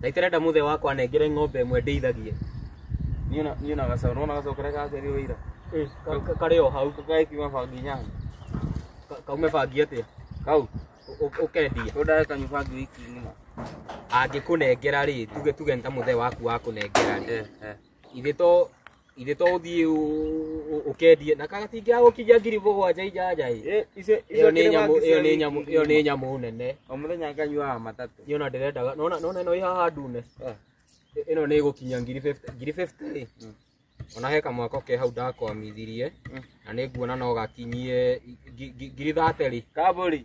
na itarenda muthe wakwa anengere ng'ombe ĩmwe ndĩithagie niĩ na- niĩ na gacaũ nona gacaũ karĩa gakerio wĩira Eh, ka- ka- karĩ o hau gagĩkiuma bangi nyanya Ka- kaume bangi atĩa kau Ũ- ũ- ũkendia tũndae kanyu bangi wiki ng'ima angĩkũnengera rĩ tuge tuge nĩ ta mũthee waku wakũnengera rĩ Eh, eh. ithe to ithe to uthii ukendie na kagatingia gukinya ngiri mugwanja injanja i Eh, icio iyo ni nyamu iyo ni nyamu iyo ni nyamu nene o muthenya nganyuaga matatũ ni ona ndirendaga nona nona ino ihaha ndune Eh. I- ino ni gukinya ngiri 50 ngiri 50 ri Mm. ona he kamwako ke hau ndakwamithirie Mm. na nĩ nguona no gakinyie ngi- ngi- ngiri 30 ri kaburi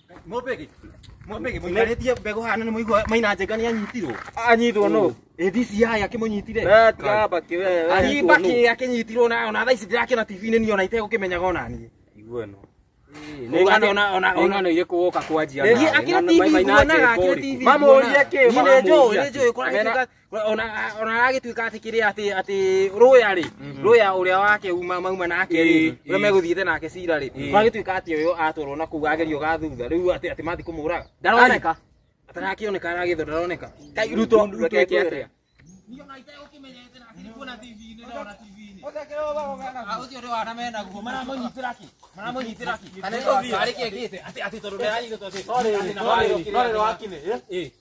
Mũmbĩgi. Mũmbĩgi mũikarĩtie mbegũ hana nĩ mũigua maina njenga nĩ anyitirwo. Anyitwo nũ? Ĩthi cia haya kĩmũnyitire. Na tiga baki wewe. Ani baki akĩnyitirwo na ona thaa ici ndĩrakĩona TV-inĩ niĩ ona itegũkĩmenyaga ona niĩ. Igua no. Nĩ ngano ona ona ona ngano irĩkũ woka kwanjia. Niĩ akĩrĩ TV kuonaga akĩrĩ TV. Mamũrie kĩ? Nĩ njũĩ, nĩ njũĩ kũragĩtuĩka ona ona aragĩtuĩka atĩ kĩrĩa atĩ atĩ rũya rĩ rũya ũrĩa wake uma mauma nake rĩ Eh, ũrĩa eh. megũthiĩte nake cira rĩ Eh. magĩtuĩka atĩ ũyũ atwarwo na kũu agerio ga thutha rĩu atĩ atĩ mathiĩ kũmũraga ndaroneka atarakĩoneka aragĩthwo ndaroneka Kai, ruto Ruto ruto eke ekwĩra. atĩa Sorry, sorry, sorry, wakinĩ, eh?